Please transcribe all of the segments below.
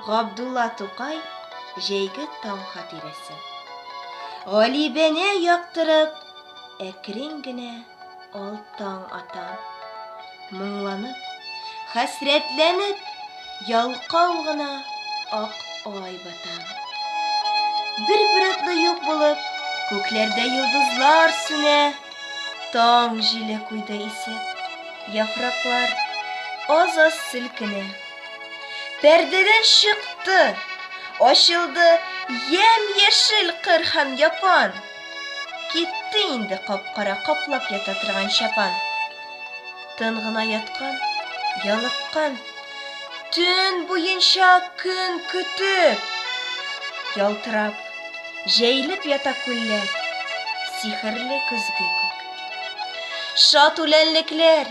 Габдулла Тукай җәйге таң хатирәсе. Галибене яктырып, әкрен генә ал таң ата. Моңланып, хәсрәтләнеп, ялкау гына ак ай бата. Бер биратлы юк булып, күкләрдә йолдызлар сүнә, таң җиле куйды исеп, яфраклар аз-аз селкенә. Пәрдәдән чыкты, ачылды ямь-яшел кыр һәм япан. Китте инде капкара каплап ята торган чапан. Тын гына яткан, ялыккан, төн буенча көн көтеп. Ялтырап, җәйлеп ята күлләр, сихерле көзге күк. Шат үләнлекләр,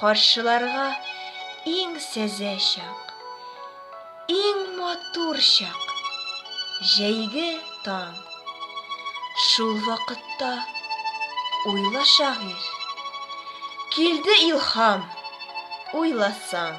Каршыларга иң сәзә чак, иң матур чак, җәйге таң. Шул вакытта уйла шагыйрь. Килде илһам, уйласаң.